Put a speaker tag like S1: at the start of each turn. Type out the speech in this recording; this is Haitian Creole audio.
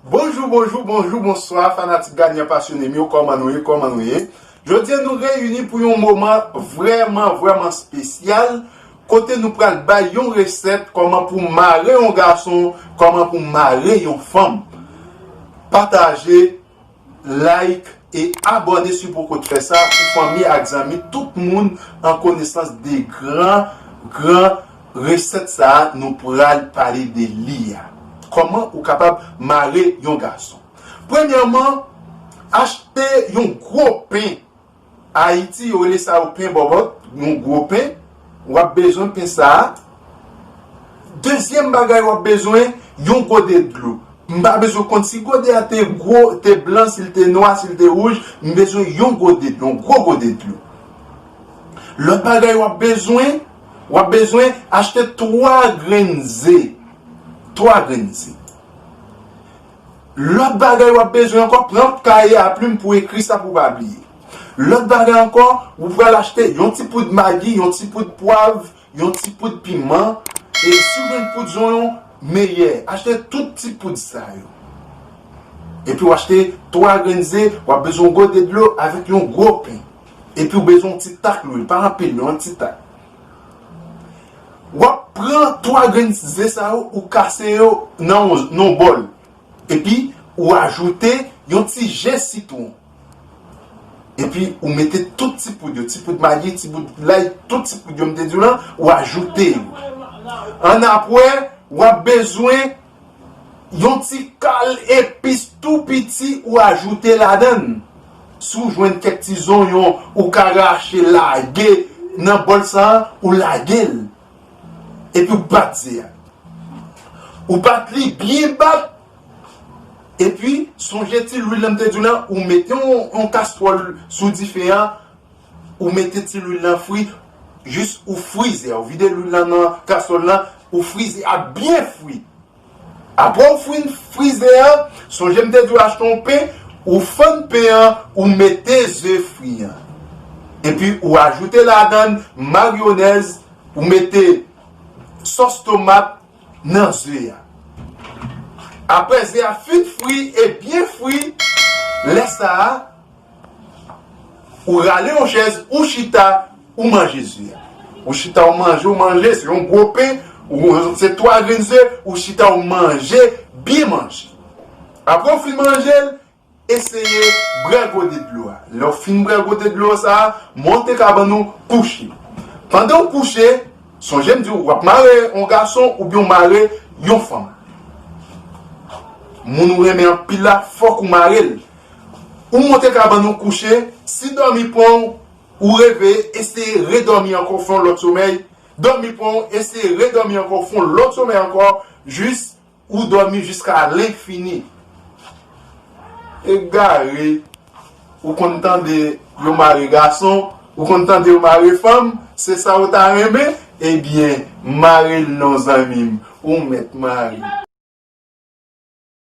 S1: Bonjou bonjou bonjou bonswa fanatik Gagnan pasyonem yo kòman nou ye kòman nou ye jodya nou reyini pou yon moman vrèman vrèman spesyal kote nou pral bay yon resèt kòman pou mare yon gason kòman pou mare yon fanm pataje Like e abone siw poko t fè sa pou fanmi ak zanmi tout moun an konesans de gran gran resèt sa nou pral pale de li a kòman ou kapab mare yon gason premyèman achte yon gwo pen Ayiti yo rele sa yo pen bòbòt, yon gwo pen, w ap bezwen pen sa a. Dezyèm bagay w ap bezwen, yon gode dlo. M pa bezwen konn si gode a te gwo, te blan, si l te nwa, si l te wouj, m bezwen yon gode dlo, yon gwo gode dlo. Lòt bagay w ap bezwen, w ap bezwen achte twa grenn ze, twa grenn ze. Lòt bagay w ap bezwen ankò, pran kaye a plim pou ekri sa pou w pa bliye. Lòt bagay ankò, ou pral achte yon ti poud magi, yon ti poud pwav, yon ti poud piman, e si w jwenn poud zonyon, meyè. Achte tout ti poud sa yo. Epi w achte 3 grenn ze, w ap bezwen yon gode dlo avèk yon gwo pen. Epi w bezwen yon ti tak lwil, pa anpil non, yon ti tak. Wap pran 3 grenn ze sa yo ou kase yo nan yon bòl epi ou ajoute yon ti je sitwon epi ou mete tout ti poud yo ti poud magi ti poud lay tout ti poud yo m te diw lan ou ajoute yo ann apwè wap bezwen Yon ti kal epis tou piti ou ajoute ladan l. Si w jwenn kèk ti zonyon ou ka rache lage nan bòl sa a, ou lage l. Epi w bat ze a. Ou bat li byen bat. Epi sonje ti lwil la m te di w la, ou mete yon kastwòl sou dife a, Ou mete ti lwil nan fri jis ou frize, ou vide lwil lan nan kaswòl lan, ou frize a byen fri. Aprè ou fin frize a, sonje m te di w achte yon pen, ou fann pen an, ou mete ze fri an. Epi ou ajoute ladann maryonèz, ou mete sòs tomat nan ze a. Aprè ze a fin fri e byen fri, lè sa a. Ou rale yon chèz, ou chita, ou manje ze a. Ou chita ou manje, ou manje, se yon gwo pen, se 3 grenn ze, ou chita ou manje, byen manje. Apre ou fin manje l, eseye bwè gode dlo a. Lè ou fin bwè gode dlo sa a, monte kabann ou, kouche. Pandan ou kouche, sonje m di ou, w ap mare yon gason oubyen ou mare yon fanm. Moun ou renmen anpil la, fòk ou mare l. Ou monte kabann ou kouche, si dòmi pran w, ou reveye, eseye redòmi ankò, fè yon lòt somèy, dòmi pran w, eseye redòmi ankò, fè yon lòt somèy ankò, jis ou dòmi jiska lenfini. Egare, ou konn tande yo mare gason, ou konn tande yo mare fanm, se sa ou ta renmen, ebyen mare l non zanmi m, ou mèt mare.